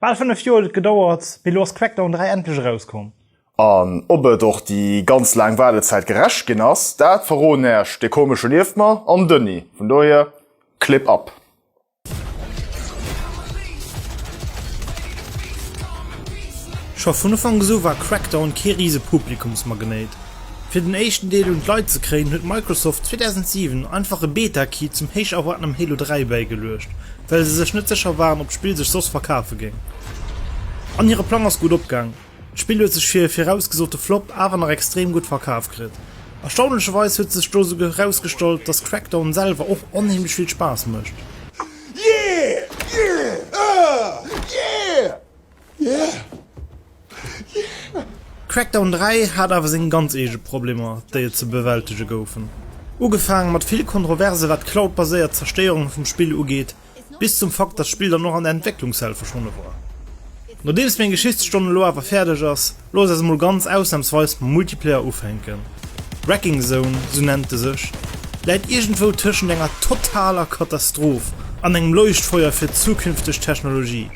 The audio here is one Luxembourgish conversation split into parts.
Bal 5 Joer huet et gedauert, mee elo ass Crackdown 3 endlech erauskomm. An ob et och déi ganz laang Waardezäit gerecht ginn ass, dat verroden Äech de komesche Liefmer an Dënni. Vun dohier Clip ab! Scho vun Ufanks u war Crackdown kee rise Publikumsmagnéit, Fir den éischten Deel un d'Leit ze kréien, huet Microsoft 2007 einfach e Beta-Key zum héich erwaartenem Halo 3 bäigeluecht, well se sech net sécher waren, ob d'Spill sech soss verkafe géing. An hire Plang ass gutt opgaang, d'Spill huet sech fir e virausgesote Flop awer nach extrem gutt verkaf kritt. Erstaunlecherweis huet sech do esouguer erausgestallt, dass Crackdown selwer och onheemlech vill Spaass mécht. Crackdown 3 hat awer seng ganz eege Problemer, déi et ze bewältege goufen. Ugefaange mat vill Kontroverse wat d'Cloud-baséiert Zerstéierung vum Spill ugeet, bis zum Fakt dat d'Spill dann och an der Entwécklungshell verschwonne war. Nodeems meng Geschichtsstonn elo awer fäerdeg ass, Looss eis emol ganz ausnahmsweis mam Multiplayer ufänken. Wrecking Zone, sou nennt e sech, läit iergendwou tëschent enger totaler Katastroph an engem Leuchtfeuer fir zukünfteg Technologie.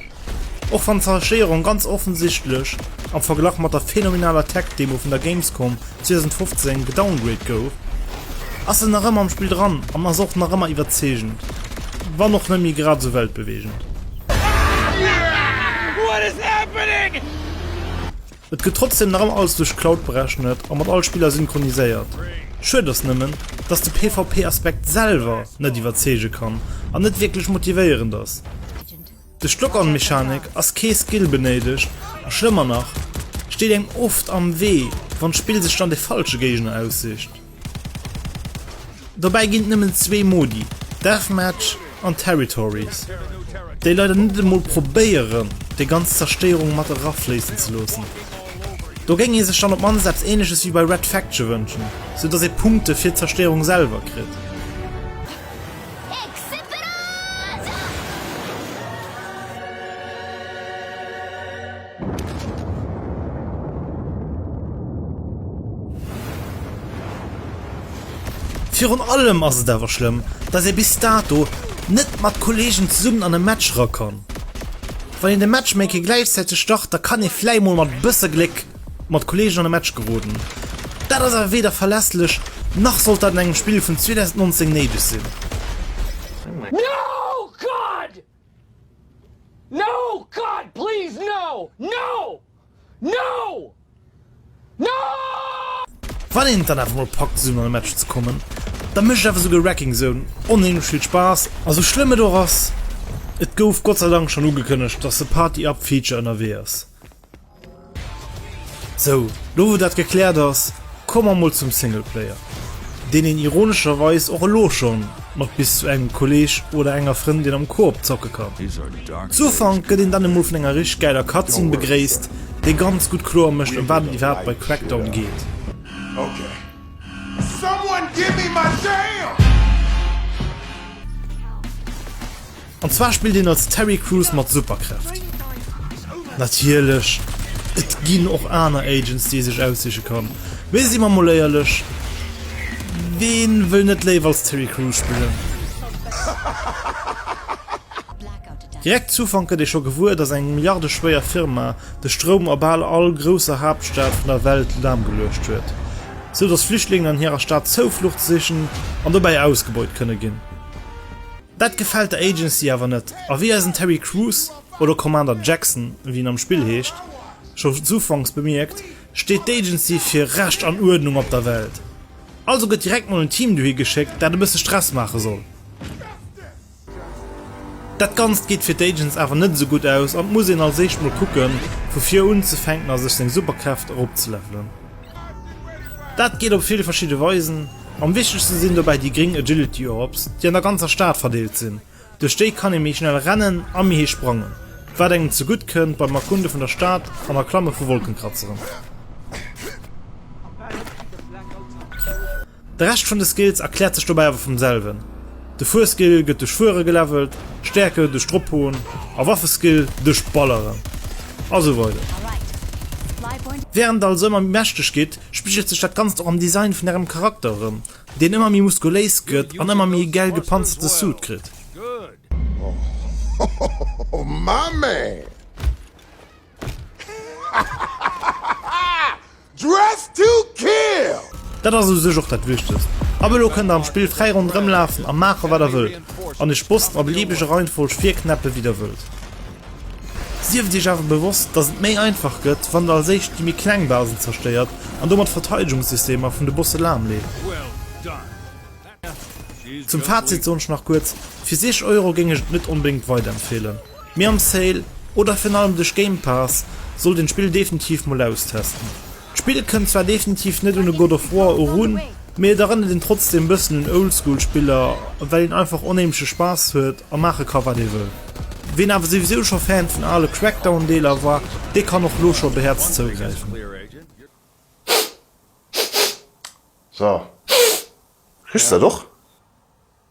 Och wann d'Zerstéierung ganz offensichtlech am Verglach mat der phänomenaler Tech-Demo vun der Gamescom 2015 gedowngrade gouf, ass se nach ëmmer am Spill dran an ass och nach ëmmer iwwerzeegend, wann och net méi grad esou weltbeweegend. Et gëtt trotzdem nach ëmmer alles duerch Cloud berechnet a mat all Spiller synchroniséiert. Schued ass nëmmen, dass de PvP Aspekt selwer net iwwerzeege kann an net wierklech motivéierend ass. Duerch d'Lock-on Mechanik ass kee Skill benéidegt a schlëmmer nach, steet engem oft am Wee wann d'Spill sech dann de falsche Géigner aussicht. Dobäi ginn et nëmmen zwee Modi, Deathmatch an Territories, déi leider net emol probéieren déi ganz Zerstéierung mat erafléissen ze loossen. Do géing ee sech dann op d'mannst eppes Änleches wéi bei Red Faction wënschen, sou datt ee Punkte fir d'Zerstéierung selwer kritt. Virun allem ass et awer schlëmm, dass ee bis dato net mat Kolleegen zesummen an e Match erakomm. Wann een de Matchmaking gläichzäiteg start, da kann ee vläicht mol mat e bësse Gléck mat Kolleegen an e Match geroden. Dat ass awer weder verlässlech, nach sollt dat an engem Spill vun 2019 néideg sinn. No! God please no! No! No! No! Wann een et dann awer mol packt esou no engem Match ze kommen, da mécht awer esou Wrecking Zone onheemlech vill Spaass a sou schlëmm et och ass, et gouf Gott sei Dank schonn ugekënnegt, dass de Party Up Feature ënnerwee ass. Sou, lo wou dat gekläert ass, komme mer mol zum Singleplayer, deen een ironescherweis och elo scho mat bis zu engem Kolleeg oder enger Frëndin am Koop zocke kann. Zu Ufank gëtt een dann emol vun enger richteg gäiler Cutscene begréisst, déi ganz gutt kloer mécht ëm wat et iwwerhaapt bei Crackdown geet. An zwar spillt een als Terry Crews mat Superkräft. Natierlech et ginn och aner Agents déi ee sech aussiche kann, mee si mer mol éierlech, ween wëll net léiwer als Terry Crews spillen? Direkt z'Ufank gëtt ee scho gewuer, dass eng milliardeschwéier Firma de Stroum a bal all grousser Haaptstad vun der Welt lahmgeluecht huet, sou dass Flüchtlingen an hirer Stad Zouflucht sichen an dobäi ausgebeut kënne ginn. Dat gefält der Agency awer net, a wéi eisen Terry Crews, oder Commander Jackson, wéi en am Spill heescht, schons ufanks bemierkt, steet d'Agency fir Recht an Uerdnung op der Welt. Also gëtt direkt mol en Team dohi geschéckt, dat e bësse Stress maache soll. Dat Ganzt geet fir d'Agents awer net esou gutt aus, an et muss een als éischt mol kucken, vu vir unzefänken a sech seng Superkräft eropzelevelen. Dat geet op vill verschidde Weisen, am wichtegste sinn dobäi déi gréng Agility Orbs, déi an der ganzer Stad verdeelt sinn. Duerch déi kann ee méi schnell rennen a méi héich sprangen, wat engem zegutt kënnt beim Erkunde vun der Stad an Erklamme vu Wolkenkratzeren. De Rescht vun de Skills erkläert sech dobäi awer vum selwen, de Fuerskill gëtt duerch Fuere gelevelt, Stäerke duerch Drophauen a Waffeskill duerch Balleren a sou weider. Wärend der also ëmmer méi mächteg gitt, spigelt sech dat Ganzt och am Design vun ärem Charakter erëm, deen ëmmer méi muskuléis gëtt an ëmmer méi e gäil gepanzerte Suit kritt. Dress to Kill! Dat ass u sech och dat Wichtegst. Ab elo kënnt der am Spill fräi ronderëm lafen a maachen, wat der wëllt, an iech Bossen a beliebeger Reihenfolg virknäppen, wéi der wëllt. Sieft iech awer bewosst, dass et méi einfach gëtt, wann der als éischt déi méi kleng Basen zerstéiert an domat d'Verteidegungssystemer vun de Bosse lahmleet. Zum Fazit soen ech nach kuerz, fir 60 Euro géing ech et net onbedéngt weiderempfeelen, mee am Sale oder virun allem duerch Game Pass sollt een d'Spill definitiv mol austesten. D'Spill kënnt zwar definitiv net un e God of War erun, mee et erënnert een trotzdeem bëssen un Oldschool Spiller, well een einfach onheemleche Spaass huet a maache ka wat ee wëll. Ween awer souwisou scho Fan vun ale Crackdown Deeler war, dee kann och lo scho behäerzt zougräifen. So. Riechs du dat och?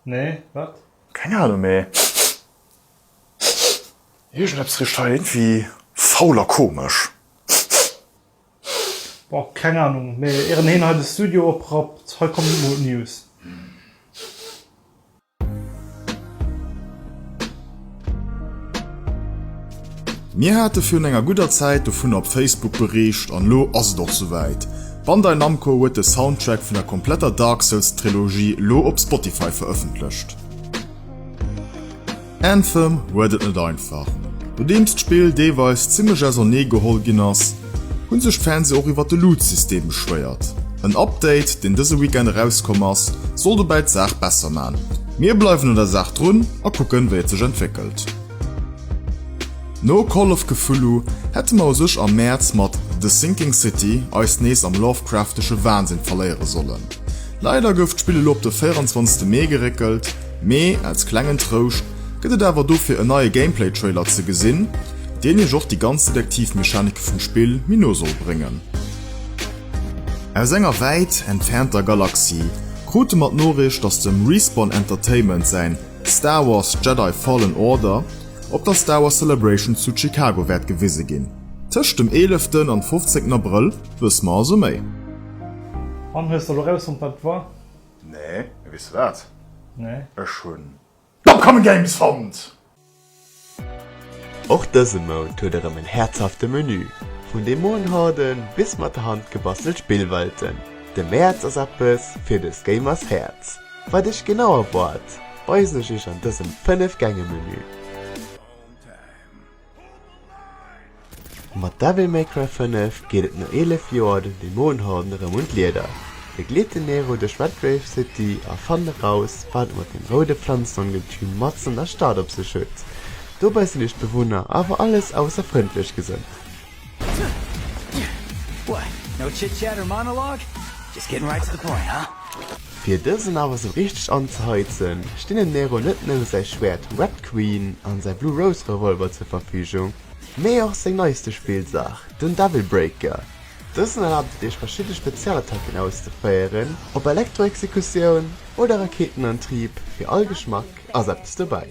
Nee, wat? Keng Ahnung, mee iergendeppes riecht hei iergendwi faul a komesch. Boah, keng Ahnung, mee ieren heen hei de Studio oprappt, hei kommen News. Mir hate virun enger gudder Zäit dovunner op Facebook bericht an elo ass et och souwäit, Bandai Namco huet de Soundtrack vun der kompletter Dark Souls Trilogie elo op Spotify verëffentlecht. Anthem huet et net einfach. Nodeems d'Spill deelweis zimmlech ausernee geholl ginn ass, hunn sech d'Fans och iwwer de Loot-System beschwéiert. En Update, deen dëse Weekend erauskomm ass, soll dobäi d'Saach besser man. Mir bleiwen un der Saach drun a kucken, wéi et sech entwéckelt. No Call of Cthulhu hätte mer u sech am Mäerz mat The Sinking City eis nees am Lovecraftesche Wahnsinn verléiere sollen. Leider gouf d'Spill elo op de 24 Mee geréckelt. Mee als klengen Trouscht gëtt et awer dofir en neie Gameplay-Trailer ze gesinn, deen iech och déi ganz Detektiv-Mechanike vum Spill méi no soll bréngen. Aus enger wäit entfernter Galaxie krute mer d'Noriicht, dass dem Respawn Entertainment säin Star Wars Jedi Fallen Order op der Star Wars Celebration zu Chicago wäert gewise ginn. Tëscht dem eeleften an fofzéngten Abrëll wësse mer also méi. An hues der lo rausfonnt wat et war? Nee, mee weess de wat? Nee. Ech hunn d'Upcoming Games fonnt! Och dëse Mount huet erëm en häerzhafte Menü, vun de Moonharden bis mat der Hand gebastelt Spillwelten. De Mäerz ass eppes fir dës Gamers Häerz. Wat iech genau erwaart, weisen ech iech an dësem 5 Gänge Menü. Mat Devil May Cry 5 geet et no 11 Joer den Dämonenhorden erëm un d'Lieder. Begleet den Nero duerch Redgrave City a fannt eraus, wat et mat dem roude Pflanzenongetüm matzen an der Stad op sech huet. Dobäi sinn iech d'Bewunner awer alles ausser frëndlech gesënnt. What? No chit chat or monologue? Just getting right to the point, huh? Fir dësen awer esou richteg anzeheizen, stinn dem Nero net nëmme säi Schwäert Red Queen an säi Blue Rose Revolver zur Verfügung, mee och seng neiste Spillsaach, den Devil Breaker. Dësen erlaabt et iech verschidde Spezialattacken auszeféieren, op Elektro-Exekutioun oder Rakeetenantrieb, fir all Geschmack ass eppes dobäi.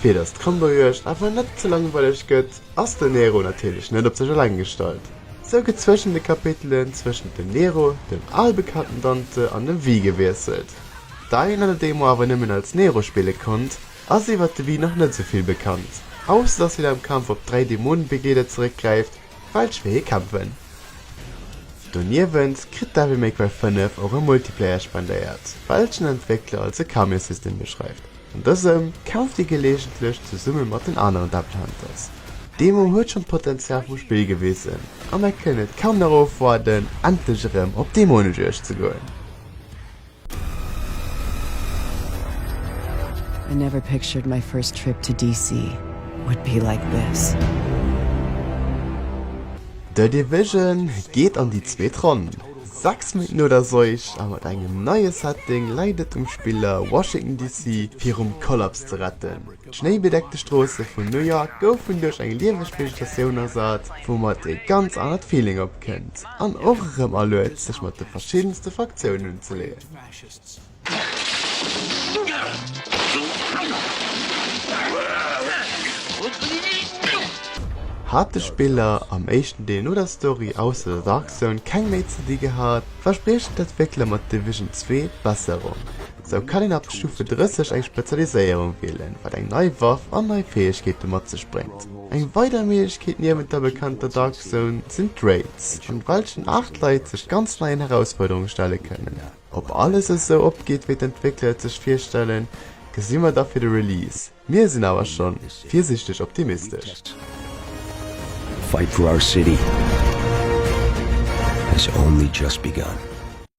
Fir dass d'Kannerjuegd awer net ze langweileg gëtt, ass den Nero natierlech net op sech eleng gestallt. Sou gëtt zwëschent de Kapitelen zwëschent dem Nero, dem albekannten Dante an dem Vii gewiesselt. Dei een an der Demo awer nëmmen als Nero spille konnt, ass iwwert de Vii nach net sou vill bekannt, ausser dass hien am Kampf op dräi Dämonen-Begleeder zeréckgräift, falsch fir hie kämpfen. Doniewent kritt Devil May Cry 5 och e Multiplayer spendéiert, welchen Entwéckler als e Kaméissystem beschreift. An dësem kämpft dir geleegentlech zesumme mat den aneren Devil Hunters. D'Demo huet schonn d'Potenzial vum Spill gewisen, a mer kënnen et kaum nach ofwaarden endlech erëm op Demonejuegd ze goen. I never pictured my first trip to DC would be like this. The Division geet an déi zweet Ronn. Sechs Minutten no der Seuch a mat engem neie Setting läit et um Spiller Washington DC fir vum Kollaps ze retten. D'schnéibedeckte Stroosse vun New York goufen duerch eng lieweg Vegetatioun ersat, woumat ee ganz anert Feeling opkënnt an och erëm aluet sech mat de verschiddenste Fraktiounen unzeleeën. Hat de Spiller am éischten Deel no der Story ausser der Dark Zone keng méi ze di gehat, verspriechen d'Entwéckler mat Division 2 Besserung. Sou kann een ab Stufe 30 eng Spezialiséierung wielen, wat eng nei Waff an nei Fäegkeete mat sech bréngt. Eng weider Méiglechkeet niewent der bekannter Dark Zone sinn d'Raids, an welchen 8 Leit sech ganz neien Herausfuerderunge stelle kënnen. Ob alles esou opgeet wéi d'Entwéckler et sech virstellen, gesi mer da fir de Release, mir sinn awer schonn virsiichteg optimistesch. Fight for our city has only just begun.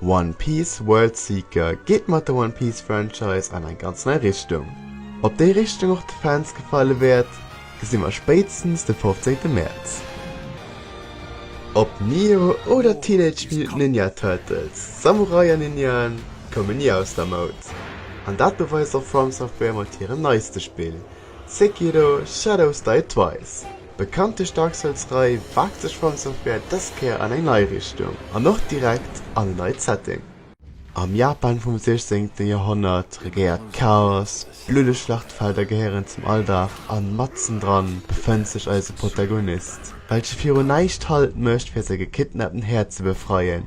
One Piece World Seeker geet mat der One Piece Franchise an eng ganz nei Richtung. Ob déi Richtung och de Fans gefalle wäert, gesi mer spéitstens de 15 Mäerz. Ob Nio oder d'Teenage Mutant Ninja Turtles, Samurai an Ninjaen koumen ni aus der Moud, an dat beweist och From Software mat hirem neiste Spill, Sekiro, Shadows Die Twice. Bekanntlech Dark Souls Rei waagt sech From Software dës Kéier an eng nei Richtung an och direkt an e neit Setting. Am Japan vum 16 Joerhonnert regéiert d'Chaos, bluddeg Schlachtfelder gehéieren zum Alldag an matzen dran befënnt sech eise Protagonist, welche viru näischt Halt mécht fir säi gekidnappten Här ze befreien.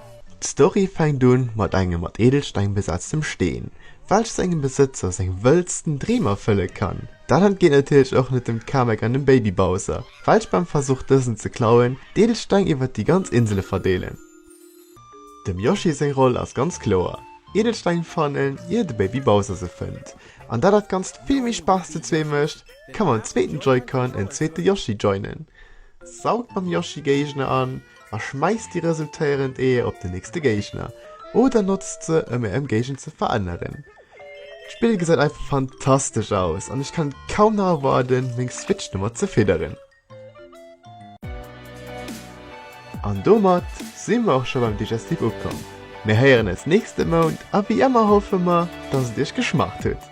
D'Story fänkt un mat engem mat Edelsteng besetztem Steen, welch sengem Besëtzer seng wëllsten Dreem erfëlle kann. Dat entgeet natierlech och net dem Kamek an dem Baby Bowser, welch beim Versuch dësen ze klauen, d'Edelsteng iwwert déi ganz Insele verdeelen. Dem Yoshi seng Roll ass ganz kloer, Edelsteng fannen ier de Baby Bowser se fënnt. An dat dat Ganzt vill méi Spaass zu zwee mécht, ka mam zweeten Joy-Con en zweete Yoshi joinen, saugt mam Yoshi Géigner an a schmeiss déi resultéierend Eeër op den nächste Géigner oder notzt se ëm är Ëmgéigend ze veränneren. D'Spill gesäit einfach fantastesch aus an ech kann kaum nach erwarden meng Switch domat ze fidderen. An domat si mer och scho beim Digestif ukomm. Mir héieren eis nächste Mount a wéi ëmmer hoffe mer dass et iech geschmaacht huet.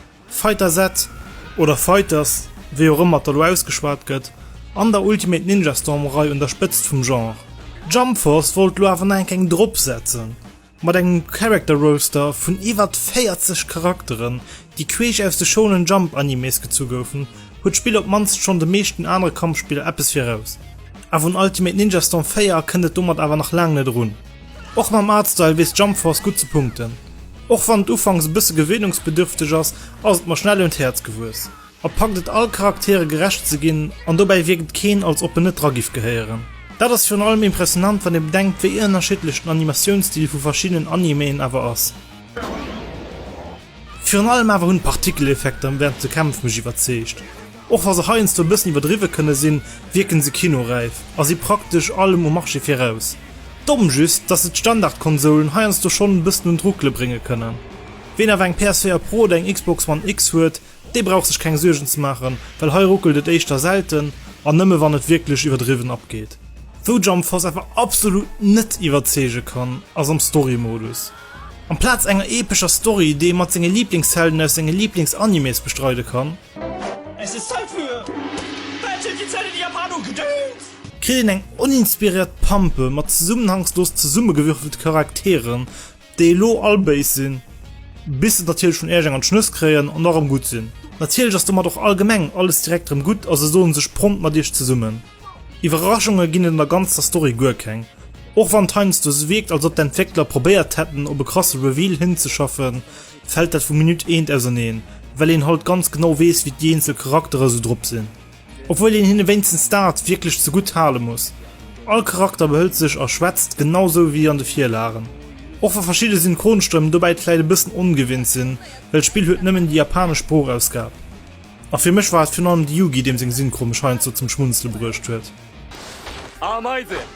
Fighter Z oder Fighters, wéi och ëmmer et elo ausgeschwat gëtt, an der Ultimate Ninja Storm Rei un der Spëtzt vum Genre. Jump Force wollt lo awer nach eng Kéng drop setzen, mat engem Character Roster vun iwwert 40 Charakteren, déi queesch aus de Shonen Jump Animes gezu goufen, huet d'Spill op d'mannst schonn de meeschten anere Kampfspiller eppes viraus. Awer un Ultimate Ninja Storm 4 kënnt et domat awer nach laang net erun. Och mam Artstyle weess Jumpforce gutt ze punkten. Och wann et ufanks e bësse gewéinungsbedürfteg ass, ass et mer schnell un d'Häerz gewuess. Et packt et all Charaktere gerecht ze ginn an dobäi wierkt et keen als ob en net dra giff gehéieren. Dat ass virun allem impressionant wann ee bedenkt wéi ënnerschiddlech den Animatiounsstil vu verschiddenen Animeen awer ass. Virun allem awer hunn d'Partikeleffekter wärend de Kämpf mech iwwerzeegt. Och wa se heiansdo e bëssen iwwerdriwwe kënne sinn, wierken se kinoräif a si praktesch allem um Marché viraus. Domm just, dass se d'Standardkonsoulen heiansdo schonn e bëssen un d'Ruckele brénge kënnen. Ween awer eng PS4 Pro oder eng Xbox One X huet, dee brauch sech keng Suergen ze maachen, well hei ruckelt et éischter selten an nëmme wann et wierklech iwwerdriwwen abgeet. Wou Jump Force awer absolut net iwwerzeege kann, ass am Story-Modus. Amplaz enger epescher Story, déi ee mat senge Liiblingshelden aus senge Liiblings-Animes bestreide kann, Es ass Zäit fir Bällchen fir Zännen, Japano Gedöns! Kritt een eng oninspiriert Pampe mat zesummenhangslos zesummegewürfelt Charakteren, déi elo all béis sinn, bis se et natierlech vun Iech eng an d'Schnëss kréien an da rëm gutt sinn. Natierlech ass domat och allgemeng alles direkt rëm gutt a se soen sech prompt mat Iech zesummen. Iwwerraschunge ginn et an der ganzer Story guer keng, och wann et heiansdo esou wierkt, als ob d'Entwéckler probéiert hätten op e krasse Reveal hinzeschaffen, fällt dat vu Minutt eent auserneen, well een halt ganz genau wees wéi déi eenzel Charakterer sou drop sin. Obwuel een hinne wéinstens daat wierklech zegudd hale muss, all Charakter behëllt sech a schwätzt genau sou wéi an de Virlagen. Och wa verschidde Synchronstëmmen dobäit vläit e bëssen ongewinnt sin, well d'Spill huet nëmmen déi japanesch Sproochausgab. A fir mech war et virun allem de Yugi deem seng Synchro mech heiansdo zum Schmunzele bruecht huet. Ameisen!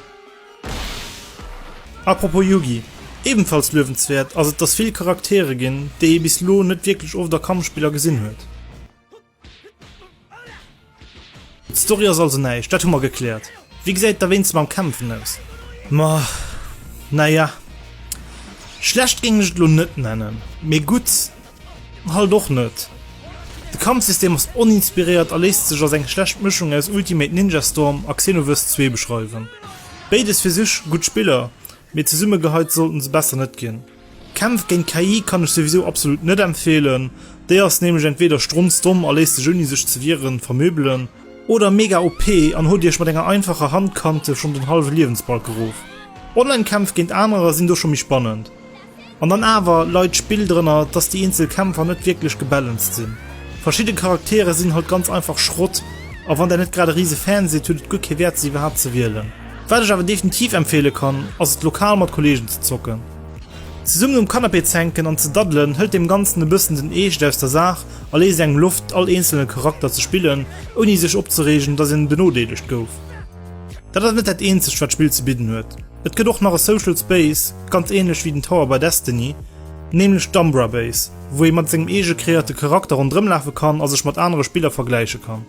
Apropos Yugi, ebenfalls luewenswäert ass et dass vill Charaktere ginn déi ee bis lo net wierklech oft a Kampfspiller gesinn huet. Story ass also näischt, dat hu mer gekläert. Wéi gesäit et da wéinste mam Kämpfen aus? Ma naja, schlecht géing ech et lo net nennen, mee gutt. Halt och net. De Kampfsystem ass oninspiréiert a léisst sech als eng schlecht Mëschung aus Ultimate Ninja Storm a Xenoverse 2 beschreiwen. Béides fir sech gutt Spiller, mee zesumme geheit sollten se besser net ginn. Kämpf géint KI kann ech souwisou absolut net empfeelen, déi ass nämlech entweeder strunzdomm a léisst sech ouni sech ze wieren vermöbelen, oder mega OP an hot iech mat enger einfacher Handkante schonn den hallwe Liewensbalk gerof. Online-Kämpf géint anerer sinn do scho méi spannend. An dann awer leit d'Spill drënner, dass déi eenzel Kämpfer net wierklech gebalanced sinn. Verschidde Charaktere sinn halt ganz einfach Schrott, a wann där net grad e riise Fan sidd, huet et guer kee Wäert se iwwerhaapt ze wielen. Wat ech awer definitiv empfeele kann, ass et lokal mat Kollegen ze zocken. Zesummen um Canapé z'hänken an ze daddelen hëlt deem Ganzen e bëssen den Eescht aus der Saach a léisst engem Loft all eenzelne Charakter ze spillen, ouni sech opzereegen, dass een benodeelegt gouf. Dat ass net dat eenzegt wat d'Spill ze bidden huet. Et gëtt och nach e Social Space, ganz ähnlech wéi den Tower bei Destiny, nämlech d'Umbra Base, wou ee mat sengem eege kreéierte Charakter ronderëm lafe kann a sech mat anere Spiller vergläiche kann.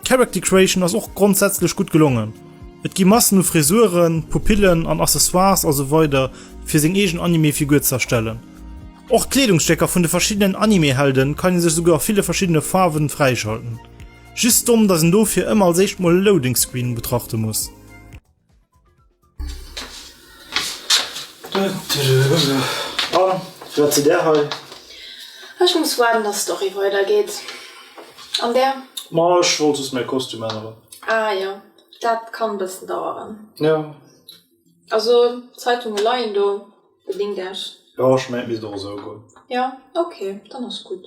D'Character Creation ass och grondsätzlech gutt gelongen, et gi Massen u Frisuren, Pupillen an Accessoires a sou weider fir seng eegen Anime-Figur ze erstellen. Och d'Kleedungsstécker vun de verschiddenen Anime-Helde kann ee sech esouguer a ville verschiddene Faarwen fräischalten. Just domm, dass een dofir ëmmer als éischt mol e Loading Screen betrachte muss. Ech muss waarden dass d'Story weider geet. An där? Ma ech wollt just mäi Kostüm änneren. Ah jo, dat kann bëssen daueren. Jo. Also d'Zeitunge leien do, bedéngt Iech. Jo, ech mengen et misst och esou goen. Jo, ok, dann ass gutt.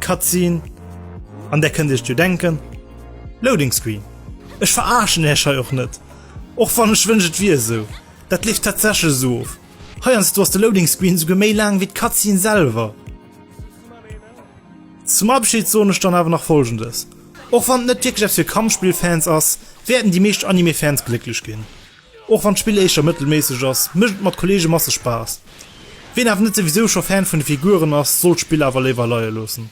Cutscene, an där kënnt iech jo denken, Loading Screen. Ech veraarschen iech hei och net, och wann ech wënsch et wier esou. Dat leeft tatsächlech esou of. Heiansdo ass de Loading Screen esouguer méi laang wéi d'Cutscene selwer. Zum Abschid soen ech dann awer nach Folgendes, Och wann et net wierklech eppes fir Kampfspill-Fans ass, wäerten déi meescht Anime-Fans glécklech ginn. Och wann d'Spill éischter mëttelméisseg ass, mécht et mat Kolleege masseg Spaass. Wien awer net souwisou scho Fan vun de Figuren ass, soll d'Spill awer léiwer leie loossen.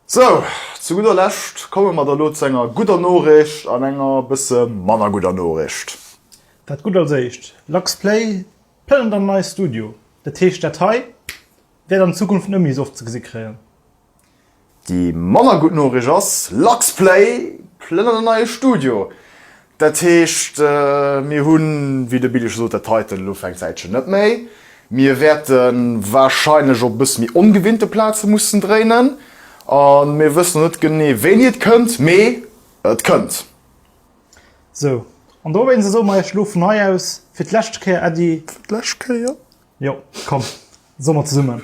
Sou, zu gudder Lescht komme mer da lo zu enger gudder Noricht an enger bësse manner gudder Noricht. Dat Gutt als éischt, LuxPlay plënnert an en neit Studio. Dat heescht, dat hei wäert an Zukunft net méi esou oft ze gesi kréien. Déi manner gutt Noricht ass, LuxPlay plënnert en neie Studio. Dat heescht, mir hunn, wéi de Billy scho sot, dat heiten elo fir eng Zäitchen net méi. Mir wäerte warscheinlech op e bësse méi ongewinnte Plaze mussen dréinen. A mir wëssen nach net genee, wéini et kënnt, mee et kënnt. Sou, an dowéinst soe mer Iech elo vun hei aus fir d'lescht Kéier Äddi. Fir d'lescht Kéier? Jo, komm, soe mer zesummen.